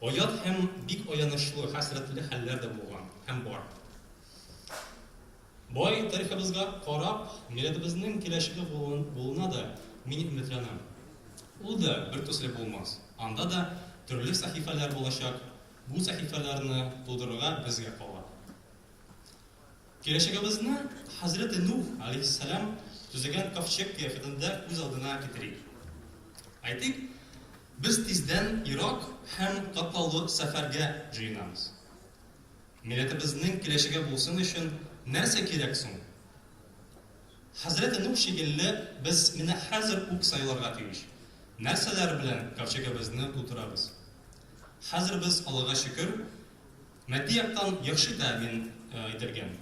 Оят һәм бик аянычлы, хәсрәтле хәлләр дә булган һәм бар. Бай тарихыбызга карап, милләтебезнең киләчәге булуына да мин өметләнәм. Ул да бертөсле булмас, анда да төрле сәхифәләр булачак, бу сәхифәләрне тудырырга безгә кала. Киләчәгебезне хәзрәте Нух, галәйһиссәлам, төзегән ковчег кыяфәтендә күз алдына китерик. Әйтик, без тиздән ерак һәм катлаулы сәфәргә җыенабыз. Милләтебезнең киләчәге булсын өчен нәрсә кирәк соң? Хәзрәте Нух шикелле, без менә хәзер үк сайларга тиеш, нәрсәләр белән ковчегебезне тутырабыз. Хәзер без, Аллага шөкер, Матди яктан яхшы тәэмин ителгән.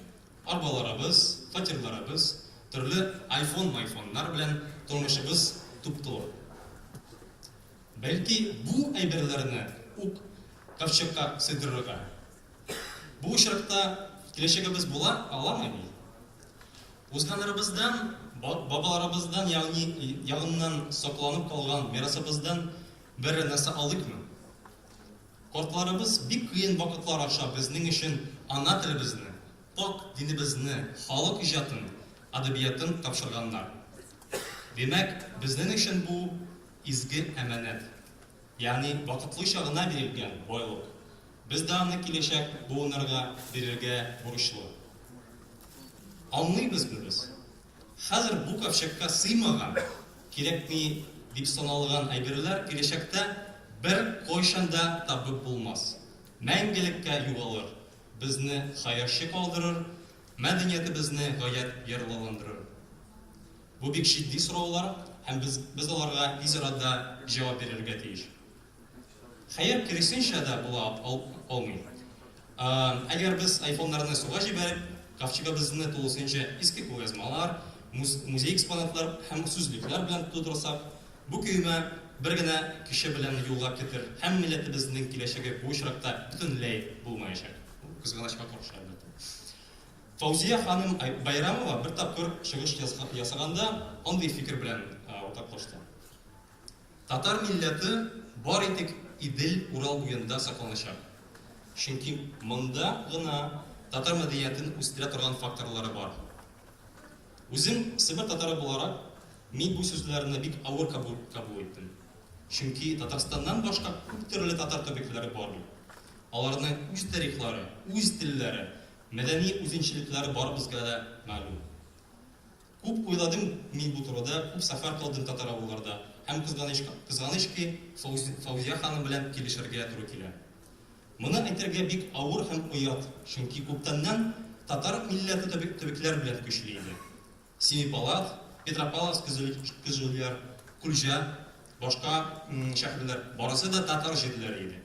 Арбаларыбыз, фатирларыбыз, төрле айфон-майфоннар белән тормышыбыз туп-туры. Бәлки, бу әйберләрне үк ковчегка сыйдырырга? Бу очракта киләчәгебез була аламы ни? Узганнарыбыздан, бабаларыбыздан, ягъни ягыннан сакланып калган мирасыбыздан берәр нәрсә алыйкмы? Картларыбыз бик кыен вакытлар аша безнең өчен ана телебезне, пакь динебезне, халык иҗатын, әдәбиятын тапшырганнар. Димәк, безнен өчен бу, изге әманәт. Ягъни вакытлыча гына бирелгән байлык. Без дә аны киләчәк буыннарга бирергә бурычлы. Аңлыйбызмы без? Хәзер бу ковчегка сыймаган, кирәкми дип саналган әйберләр киләчәктә бер кайчан да табып булмас, мәңгелеккә югалыр, безне хәерче калдырыр, мәдәниятебезне гаять ярлыландырыр. Бу бик җитди сораулар һәм без аларга тиз арада җавап бирергә тиеш. Хәер, киресенчә дә була алмый. Әгәр без айфоннарны суга җибәреп, ковчегыбызны тулысынча иске кулъязмалар, музей экспонатлар һәм сүзлекләр белән тутырсак, бу көймә бер генә кеше белән юлга китер һәм милләтебезнең киләчәге бу очракта бөтенләй булмаячак. Бу кызганычка каршы, әлбәттә. Фаузия ханым Байрамова бер тапкыр чыгыш ясаганда андый фикер белән уртаклашты. Татар милләте бары тик Идел, Урал буенда сакланачак. Чөнки монда гына татар мәдәниятен үстерә торган факторлары бар. Үзем Себер татары буларак, мин бу сүзләрне бик авыр кабул иттем. Чөнки Татарстаннан башка күп төрле татар төбәкләре бар бит. Аларның үз тарихлары, үз телләре, мәдәни үзенчәлекләре барыбызга да мәгълүм. Күп уйладым мин бу турыда, күп сәфәр кылдым татар авылларда һәм кызганычка кызганыч ки, Фаузия ханым белән килешергә туры килә. Моны әйтергә бик авыр һәм оят, чөнки күптәннән татар милләте төбе төбекләр белән көчле иде. Семипалат, Петропавловск көзүләр, Кульҗа, башка шәһәрләр, барысы да татар җирләре иде.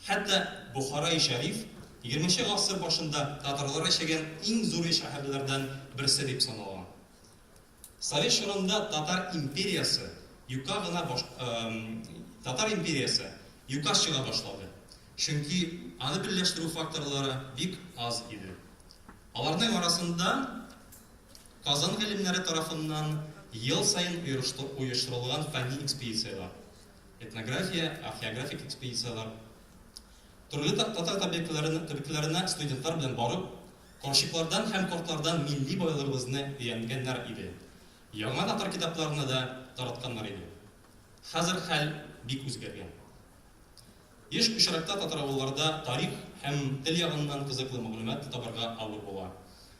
Хәтта Бохараи Шәриф егерменче гасыр башында татарлар яшәгән иң зур шәһәрләрдән берсе дип саналган. Совет чорында татар империясе юкка гына баш Татар империясе юкка чыга башлады, чөнки аны берләштерү факторлары бик аз иде. Аларның арасында Казан галимнәре тарафыннан ел саен оештырылган фәнни экспедицияләр, этнография, археографик экспедицияләр, төрле татар табигатьләренә студентлар белән барып, карчыклардан һәм картлардан милли байлыгыбызны өйәнгәннәр иде. Яңа татар китапларына да таратканнар иде. Хәзер хәл бик үзгәргән. Еш очракта татаравылларда тарих һәм тел ягыннан кызыклы мәгълүмат табарга авыр була,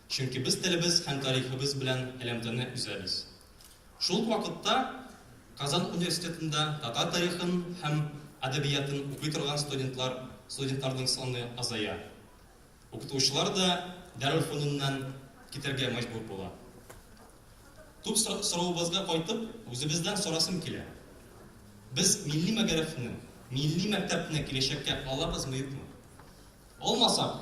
чөнки без телебез һәм тарихыбыз белән элемтәне өзәбез. Шул ук вакытта Казан университетында татар тарихын һәм әдәбиятын укый торган студентлар, студентларның саны азая. Укытучылар да Дарелфонуннан китәргә мәҗбүр була. Туп соравыбызга кайтып, үзебездән сорасым килә. Без милли мәгарифне, милли мәктәпне киләчәккә алабызмы-юкмы? Алмасак,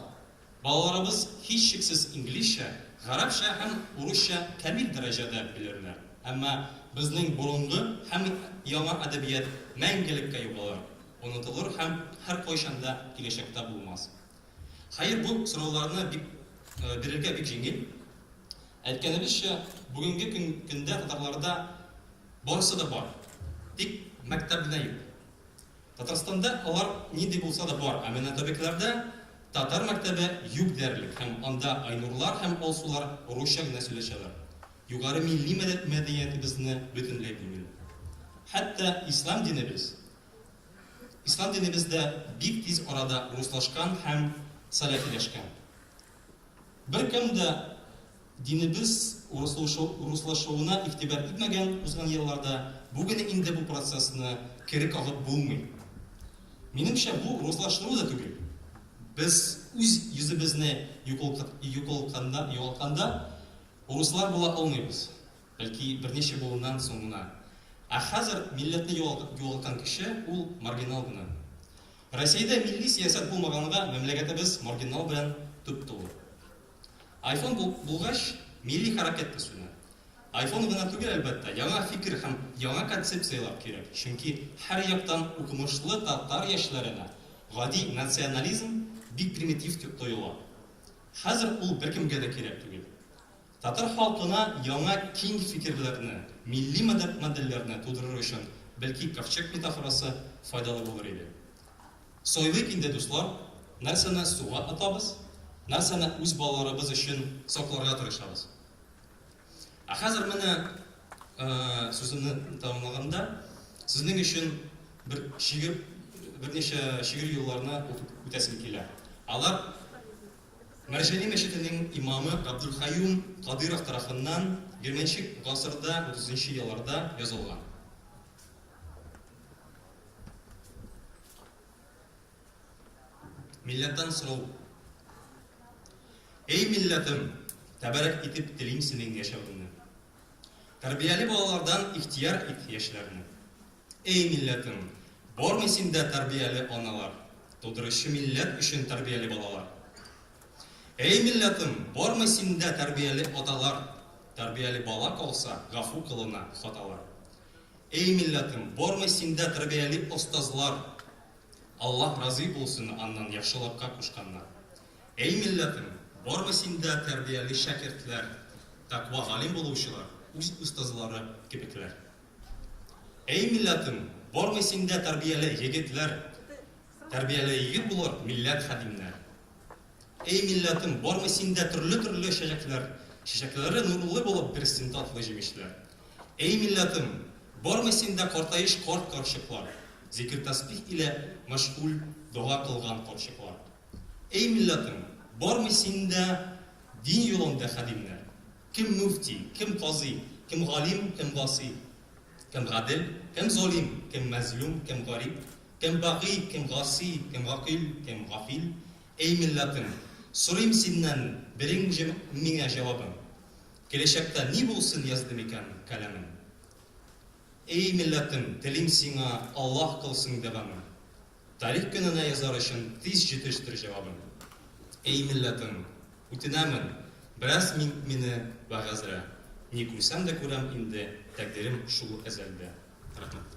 Балаларыбыз, һичшиксез, инглизчә, гарәпчә һәм урысча камил дәрәҗәдә белерләр. Әмма безнең борынгы һәм яңа әдәбият мәңгелеккә югалыр, онытылыр һәм һәркайчан да киләчәктә булмас. Хәер, бу сорауларны бик бирергә бик җиңел. Әйткәнебезчә, бүгенге көндә татарларда барысы да бар, тик мәктәбенә юк. Татарстанда алар нинди булса да бар, ә менә табибларда татар мәктәбе юк диярлек һәм анда Айнурлар һәм Алсулар русча гына сөйләшәләр. Югары милли мәдәниятебезне бөтенләй белмиләр. Хәтта ислам динебез Ислам динебез дә бик тиз арада руслашкан һәм сәләфиләшкән. Беркем дә динебез урыслашуына игътибар итмәгән узган елларда, бүген инде бу процессны кире кагып булмый. Минемчә, бу урыслаштыру да түгел. Без үз йөзебезне югалтканда, урыслар була алмыйбыз. Бәлки, берничә буыннан соң гына. Ә хәзер милләтне югалтып югалткан кеше, ул маргинал гына. Россиядә милли сәясәт булмаганга мәмләгәтебез маргинал белән туп-тулы. Айфон бул булгач, милли хәрәкәт тә сүнә. Айфон гына түгел, әлбәттә, яңа фикер һәм яңа концепцияләр кирәк, чөнки һәр яктан укымышлы татар яшьләренә гади национализм бик примитив тоела. Хәзер ул беркемгә дә кирәк түгел. Татар халкына яңа киң фикерләрне, милли модельләрне тудырыр өчен бәлки ковчег метафорасы файдалы булыр иде. Сайлыйк инде, дуслар, нәрсәне суга атабыз, нәрсәне үз балаларыбыз өчен сакларга тырышабыз. Ә хәзер менә, сүземне тәмамлаганда, сезнең өчен бер шигырь, берничә шигырь юлларны укып үтәсем килә. Алар. Мәрҗани мәчетенең имамы Габделкаюм Кадыйров тарафыннан бирмәнче гасырда, утызынчы елларда язылган. Милләттан сорау. Әй милләтем, тәбәрәк итеп телим синең яшәвеңне. Тәрбияле балалардан ихтияр ит яшьләрне. Эй милләтем, бармы синдә тәрбияле аналар, тудыручы милләт өчен тәрбияле балалар? Эй милләтем, бармы синдә тәрбияле аталар, тәрбияле бала калса, гафу кылына хаталар? Эй милләтем, бармы синдә тәрбияле остазлар, Аллаһ разый булсын аннан яхшылыкка кушканнар? Эй милләтем, бармы синдә тәрбияле шәкертләр, тәкъва галим булучылар, үз остазлары кебекләр? Әй милләтем, бармы синдә тәрбияле егетләр, Тәрбияле егет булыр милләт хәдимнәр. Әй милләтем, бармы синдә төрле-төрле чәчәкләр, Чәчәкләре нурлы булып бирсен татлы җимешләр. Әй милләтем, бармы синдә картаеш карт-карчыклар, Зикер-тәсбих илә мәшгуль дога кылган карчыклар. Әй милләтем, бармы синдә дин юлында хәдимнәр. Кем муфти, кем казый, кем галим, кем гасый, кем гадел, кем залим, кем мәзлум, кем гариб, кем баги, кем гаси, кем гакыйль, кем гафил, Эй милләтем, сорыйм синнән бериң же миңа җавабын, Киләчәктә ни булсын язды микән каләмем? Эй милләтем, телим сиңа, Аллаһ кылсын дәвамын. Тарих көненә язар өчен тиз җитештер җавабын. Эй милләтем, үтенәмен, бераз мин мине вәгазьрә, ни күрсәм дә күрәм инде, тәкъдирем шул әзәлдә. Рәхмәт.